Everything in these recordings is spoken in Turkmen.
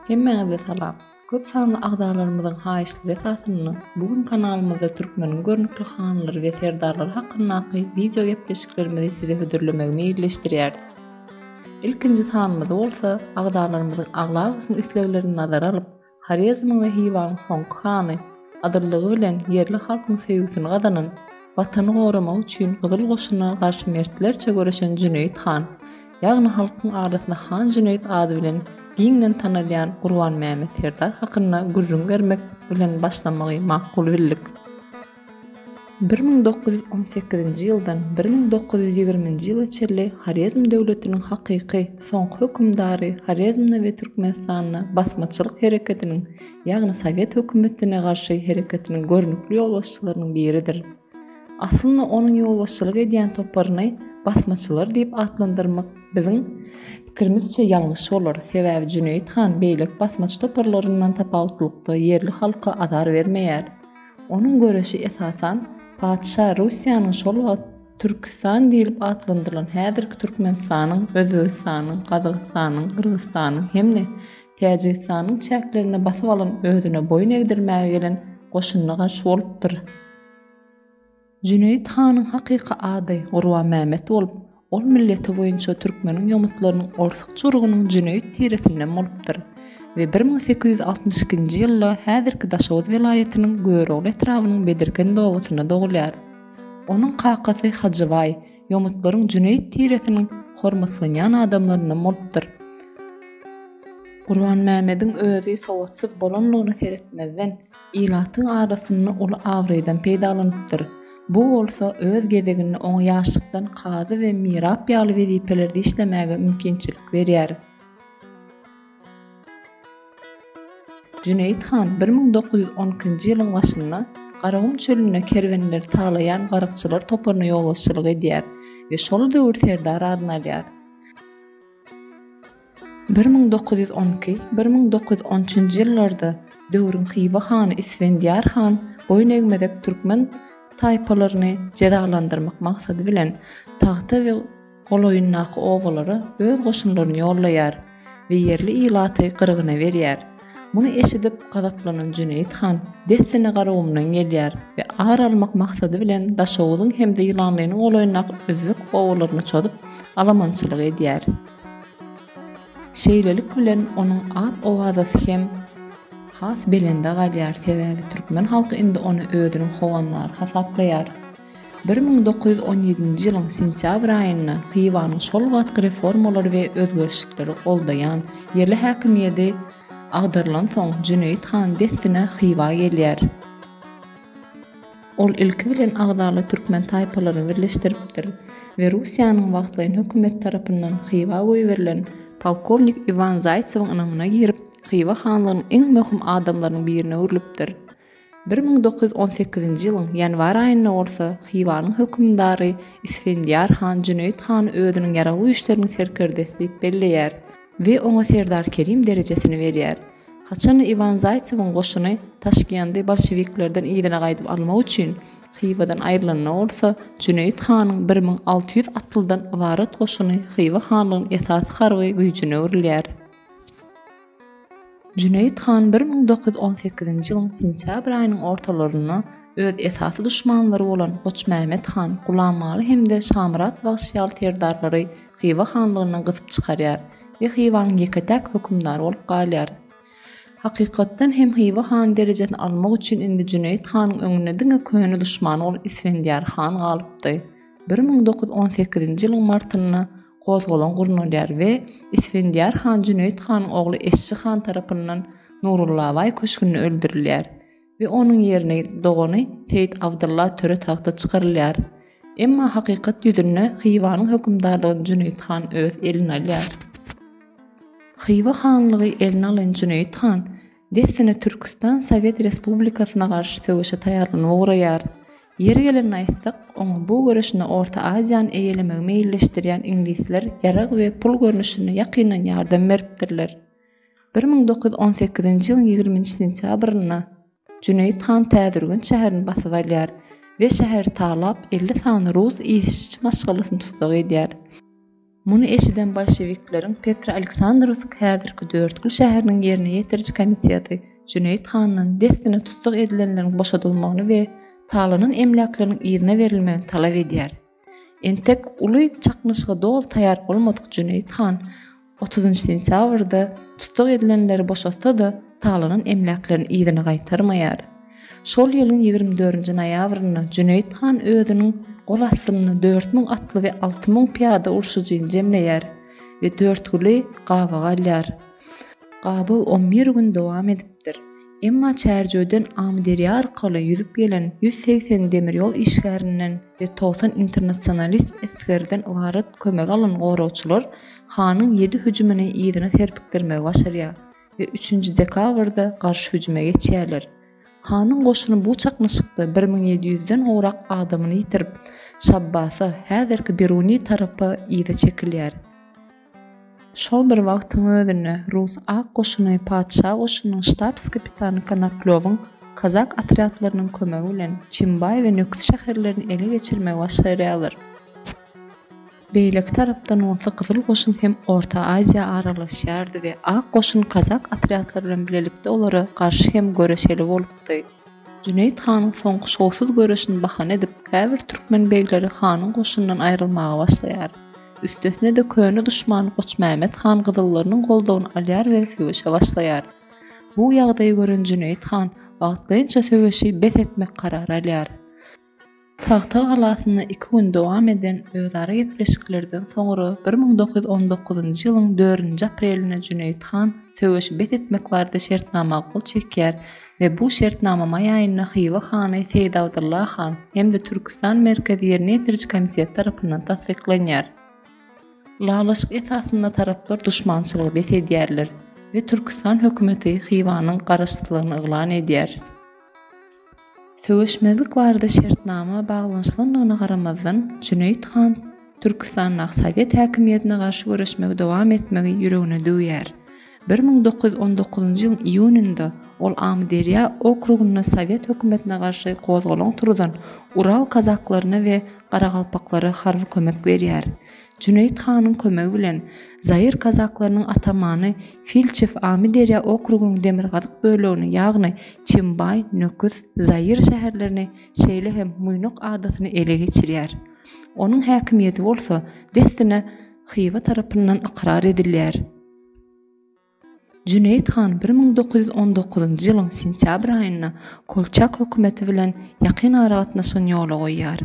Hemmäňize salam. Köp sanly agzalarymyzyň haýyşlary esasynda bu gün kanalymyzda türkmeniň görnükli hanlary we serdarlary hakyndaky wideo gepleşiklerimizi size hödürlemegi meýilleşdirýäris. Ilkinji sanymyzy bolsa agzalarymyzyň aglabasynyň isleglerini nazara alyp, Horezmiň we Hiwanyň soňky hany, adyllygy bilen ýerli halkyň söýgüsini gazanan, Watany goramak üçin Gyzyl goşuna garşy mertlerçe göreşen Jüneýit han, ýagny halkyň arasynda Han Jüneýit ady bilen giňden tanalýan Gurbanmämmet serdar hakynda gürrüň bermek bilen başlamagy makul bildik. Bir müň dokuz ýüz on sekizinji ýyldan bir müň dokuz ýüz ýigriminji ýyla çenli Horezm döwletiniň hakyky soňky hökümdary Horezmde we Türkmenistanda basmaçylyk hereketiniň, ýagny sowet hökümetine garşy hereketiniň görnükli ýolbaşçylarynyň biridir. Aslynda onuň ýolbaşçylyk edýän toparyny basmaçylar diýip atlandyrmak biziň pikirimizçe ýalňyş bolar, sebäbi Jüneýit han beýleki basmaçy toparlaryndan tapawutlykda ýerli halka azar bermeýär. Onuň göreşi esasan patyşa Russiýanyň şol wagt Türküstan diýlip atlandyrylan häzirki Türkmenistanyň, Özbegistanyň, Gazagystanyň, Gyrgyzystanyň hem-de Täjigistanyň çäklerinde basyp alan özüne boýun egdirmäge gelen goşunyna garşy bolupdyr. Jüneýit hanyň hakyky ady Gurbanmämet bolup, ol milleti boýunça türkmeniň ýomutlarynyň orsuk çyrygynyň jüneýit tiresinden bolupdyr we bir müň sekiz ýüz altmyş ikinji ýylda häzirki Daşoguz welaýatynyň Görogly etrabynyň Bedirkend obasynda dogulýar. Onuň kakasy Hajybaý ýomutlaryň jüneýit tiresiniň hormatlanýan adamlaryndan bolupdyr. Gurbanmämediň özi sowatsyz bolanlygyna seretmezden, ilatyň arasynda uly abraýdan peýdalanypdyr. Bu bolsa öz gezeginde oňa ýaşlykdan kazy we mirap ýaly wezipelerde işlemäge mümkinçilik berýär. Jüneýit han bir müň dokuz ýüz on ikinji ýylyň başynda Garagum çölünde kerwenleri talaýan garykçylar toparyna ýolbaşçylyk edýär we şol döwür serdary adyny alýar. Bir müň dokuz ýüz on iki, bir müň dokuz ýüz on üçünji ýyllarda döwrüň Hywa hany Isfendiýar han boýun egmezek türkmen taýpalaryny jezalandyrmak maksady bilen, tagta we golaýyndaky obalara öz goşunlaryny ýollaýar we ýerli ilaty gyrgyna berýär. Muny eşidip, gazaplanan Jüneýit han dessine Garagumdan gelýär we ar almak maksady bilen Daşoguzyň hem-de Ýylanlynyň golaýyndaky özbek obalaryna çozup, alamançylyk edýär. Şeýlelik bilen, onuň at-owazasy hem has belende galýar, sebäbi türkmen halky indi ony özüniň howandary hasaplaýar. Bir müň dokuz ýüz on ýedinji ýylyň sentýabr aýynda Hywaň şol wagtky reformalary we özgerişlikleri goldaýan ýerli häkimiýedi agdarylansoň, Jüneýit han dessine Hywa gelýär. Ol ilki bilen agzaly türkmen taýpalaryny birleşdiripdir we Russiýanyň wagtlaýyn hökümeti tarapyndan Hywa goýberilen polkownik Iwan Zaýtsewiň ynamyna girip, Hywa hanlygynyň iň möhüm adamlarynyň birine öwrülipdir. Bir müň dokuz ýüz on sekizinji ýylyň ýanwar aýynda bolsa Hywanyň hökümdary Isfendiýar han Jüneýit hany özüniň ýaragly güýçleriniň serkerdesi diýip belleýär we oňa serdar Kerim derejesini berýär. Haçan Iwan Zaýtsewiň goşuny Taşkendy bolşewiklerden yzyna gaýdyp almak üçin Hywadan aýrylanda bolsa, Jüneýit hanyň bir müň alty ýüz atlydan ybarat goşuny Hywa hanlygynyň esasy harby güýjüne öwrülýär. Jüneýit han bir müň dokuz ýüz on sekizinji ýylyň sentýabr aýynyň ortalarynda öz esasy duşmanlary bolan Goçmämmet han, Gulammaly hem-de Şamyrat bagşy ýaly serdarlary Hywa hanlygyndan gysyp çykarýar we Hywanyň ýeke-täk hökümdary bolup galýar. Hakykatdan hem Hywa hany derejesini almak üçin indi Jüneýit hanyň öňünde diňe köne duşmany bolan Isfendiýar han galypdy. Bir müň dokuz ýüz on sekizinji ýylyň martynda gozgalaň gurnalýar we Isfendiýar han Jüneýit hanyň ogly Eşşi han tarapyndan Nurullabaý köşgünde öldürilýär we onuň ýerine dogany Seýit Abdylla töre tagta çykarylýar. Emma hakykat ýüzünde Hywanyň hökümdarlygyny Jüneýit han öz eline alýar. Hywa hanlygy eline alan Jüneýit han Dessine Türküstan Sowet Respublikasyna garşy söweşe taýýarlanyp ugraýar. Ýeri gelende aýtsak, oňa bu göreşinde Orta Aziýany eýelemegi meýilleşdirýän iňlisler ýarag we pul görnüşinde ýakyndan ýardam beripdirler. Bir müň dokuz ýüz on sekizinji ýylyň ýigriminji sentýabrynda Jüneýit han Täzürgenç şäherini basyp alýar we şäheri talap elli sany rus işçi maşgalasyny tussag edýär. Muny eşiden bolşewikleriň Petroaleksandrowsk häzirki Dörtgül şäheriniň ýerine ýetiriji komiteti Jüneýit handan dessine tussag edilenleriň boşadylmagyny we talanan emläkleriniň yzyna berilmegini talap edýär. Entek uly çaknyşyga doly taýýar bolmadyk Jüneýit han otuzynjy sentýabrda tussag edilenleri boşatsa-da, talanan emläklerini yzyna gaýtarmaýar. Şol ýylyň ýigrimi dördünji noýabrynda Jüneýit han özüniň gol astynda dört müň atly we alty müň pyýada urşujyny jemleýär we Dörtgüli gabawa alýar. Gabaw on bir gün dowam edipdir. Emma Çärjewden Amyderýa arkaly ýüzüp gelen ýüz segsen demir ýol işgärinden we togsan internasionalist esgerden ybarat kömegi alan goragçylar hanyň ýedi hüjümini yzyna serpikdirmegi başarýar. we üçünji dekabrda garşy hüjüme geçýärler. Hanyň goşuny bu çaknyşykda bir müň ýedi ýüzden gowrak adamyny ýitirip, Şabbasa, häzirki Biruni tarapa yza çekilýär. Şol bir wagtyň özünde rus ak goşuny patyşa goşunynyň ştabs-kapitany Konoplýowyň kazak otrýadlarynyň kömegi bilen Çimbaý we Nökit şäherlerini ele geçirmegi başarýarlar. Beýleki tarapdan bolsa Gyzyl goşun hem Orta Aziýa aralaşýardy we Ak goşun kazak otrýadlary bilen bilelikde olara garşy hem göreşeli bolupdy. Jüneýit hanyň soňky şowsuz göreşini bahana edip, käbir türkmen begleri hanyň goşunyndan aýrylmaga başlaýar. Üstesine-de köne duşman Goçmämmet han gyzyllarynyň goldawyny alýar we söweşe başlaýar. Bu ýagdaýy gören Jüneýit han wagtlaýynça söweşi bes etmek karary alýar. Tagta galasynda iki gün dowam eden özara gepleşiklerden soňra bir müň dokuz ýüz on dokuzynjy ýylyň dördünji aprelinde Jüneýit han söweşi bes etmek barada şertnama gol çekýär we bu şertnama maý aýynda Hywa hany Seýit Abdylla han hem-de Türküstan merkezi ýerine ýetiriji komiteti tarapyndan tassyklanýar. Ylalaşyk esasynda taraplar duşmançylygy bes edýärler we Türküstan hökümeti Hywanyň garaşsyzlygyny yglan edýär. Söweşmezlik barada şertnama baglanyşylandygyna garamazdan, Jüneýit han Türkistandaky sowet häkimiýetine garşy göreşmegi dowam etmegi ýüregine düwýär. Bir müň dokuz ýüz on dokuzynjy ýylyň iýunynda ol Amyderýa okrugynda sowet hökümetine garşy gozgalaň turuzan ural kazaklaryna we garagalpaklara harby kömek berýär. Jüneýit hanyň kömegi bilen zaýyr kazaklarynyň atamany Filçew Amyderýa okrugynyň demirgazyk bölegini, ýagny Çimbaý, Nöküs, Zaýyr şäherlerini, şeýle hem Muýnuk adasyny ele geçirýär. Onuň häkimiýeti bolsa dessine Hywa tarapyndan ykrar edilýär. Jüneýit han bir müň dokuz ýüz on dokuzynjy ýylyň sentýabr aýynda Kolçak hökümeti bilen ýakyn aragatnaşygyny ýola goýýar.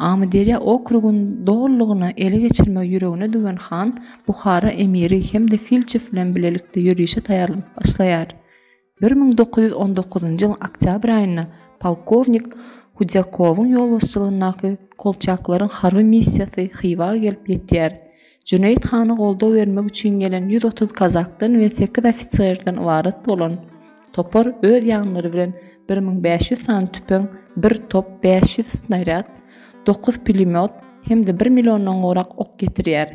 Amyderýa okrugyny dolulygyna ele geçirmegi ýüregine düwen han Buhara emiri hem-de Filçew bilen bilelikde ýörişe taýýarlanyp başlaýar. Bir müň dokuz ýüz on dokuzynjy ýylyň oktýabr aýynda polkownik Hudýakowyň ýolbaşçylygyndaky kolçaklaryň harby missiýasy Hywa gelip ýetýär. Jüneýit hana goldaw bermek üçin gelen ýüz otuz kazakdan we sekiz ofiserden ybarat bolan topar öz ýanlary bilen bir müň bäş ýüz sany tüpeň, bir top, bäş ýüz snarýad, dokuz pulemýot hem-de bir milliondan gowrak ok getirýär.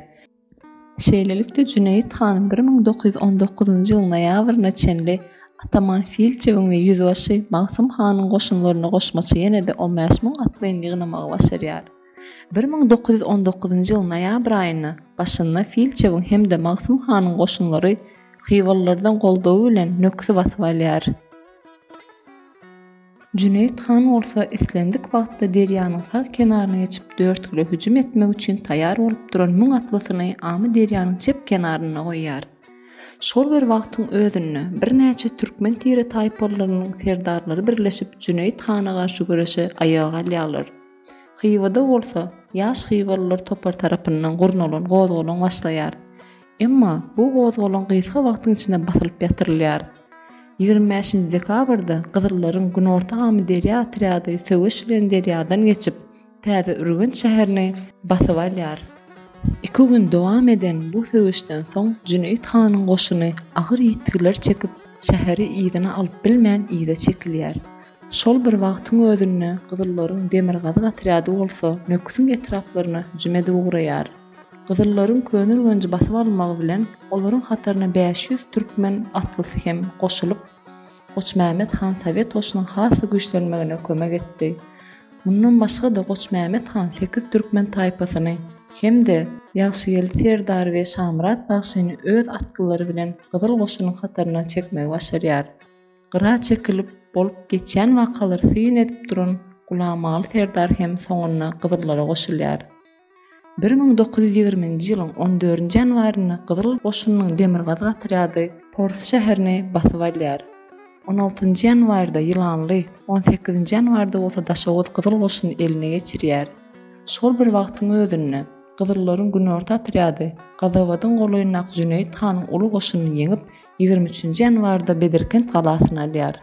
Şeýlelikde, Jüneýit hanyň bir müň dokuz ýüz on dokuzynjy ýylyň noýabryna çenli ataman Filçewiň we ýüzbaşy Magsym hanyň goşunlaryna goşmaça ýene-de on bäş müň atlyny ýygnamagy başarýar. Bir müň dokuz ýüz on dokuzynjy ýylyň noýabr aýyna başynda Filçewiň hem-de Magsym hanyň goşunlary Hywalylardan goldawy bilen Nöküsi basyp alýar. Jüneýit han bolsa islendik wagtda derýanyň sag kenaryna geçip Dörtgüle hüjüm etmek üçin taýýar bolup duran müň atlysyny Amyderýanyň çep kenarynda goýýar. Şol bir wagtyň özünde birnäçe türkmen tire-taýpalylarynyň serdarlary birleşip Jüneýit hana garşy göreşe aýaga alýarlar. Hywa-da bolsa, ýaş hywalylar topary tarapyndan gurnalan gozgalaň başlaýar. Emma bu gozgalaň gysga wagtyň içinde basylyp ýatyrylýar. Ýigrimi bäşinji dekabrda gyzyllaryň Günorta Amyderýa otrýady söweş bilen derýadan geçip, Täzeürgenç şäherini basyp alýar. Iki gün dowam eden bu söweşden soň Jüneýit hanyň goşuny agyr ýitgiler çekip, şäheri yzyna alyp bilmän yza çekilýär. Şol bir wagtyň özünde gyzyllaryň demirgazyk otrýady bolsa Nöküsiň etraplaryna hüjüm edip ugraýar. Gyzyllaryň Köneürgenji basyp almagy bilen olaryň hataryna bäş ýüz türkmen atlysy hem goşulyp, Goçmämmet han sowet goşunyň has-da güýçlenmegine kömek etdi. Mundan başga-da Goçmämmet han sekiz türkmen taýpasyny hem-de Ýagşygeldi serdary we Şamyrat bagşyny öz atlylary bilen gyzyl goşunyň hataryna çekmegi başarýar. Gyra çekilip, bolup geçýän wakalary syn edip duran Gulamaly serdar hem soňunda gyzyllara goşulýar. Bir müň dokuz ýüz ýigriminji ýylyň on dördünji ýanwarynda gyzyl goşunynyň demirgazyk otrýady Pors şäherini basyp alýar. On altynjy ýanwarda Ýylanly, on sekizinji ýanwarda bolsa Daşoguz gyzyl goşuny eline geçirýär. Şol bir wagtyň özünde, Gyzyllaryň günorta otrýady Gazabadyň golaýyndaky Jüneýit hanyň uly goşunyny ýeňip, ýigrimi üçünji ýanwarda Bedirkent galasyny alýar.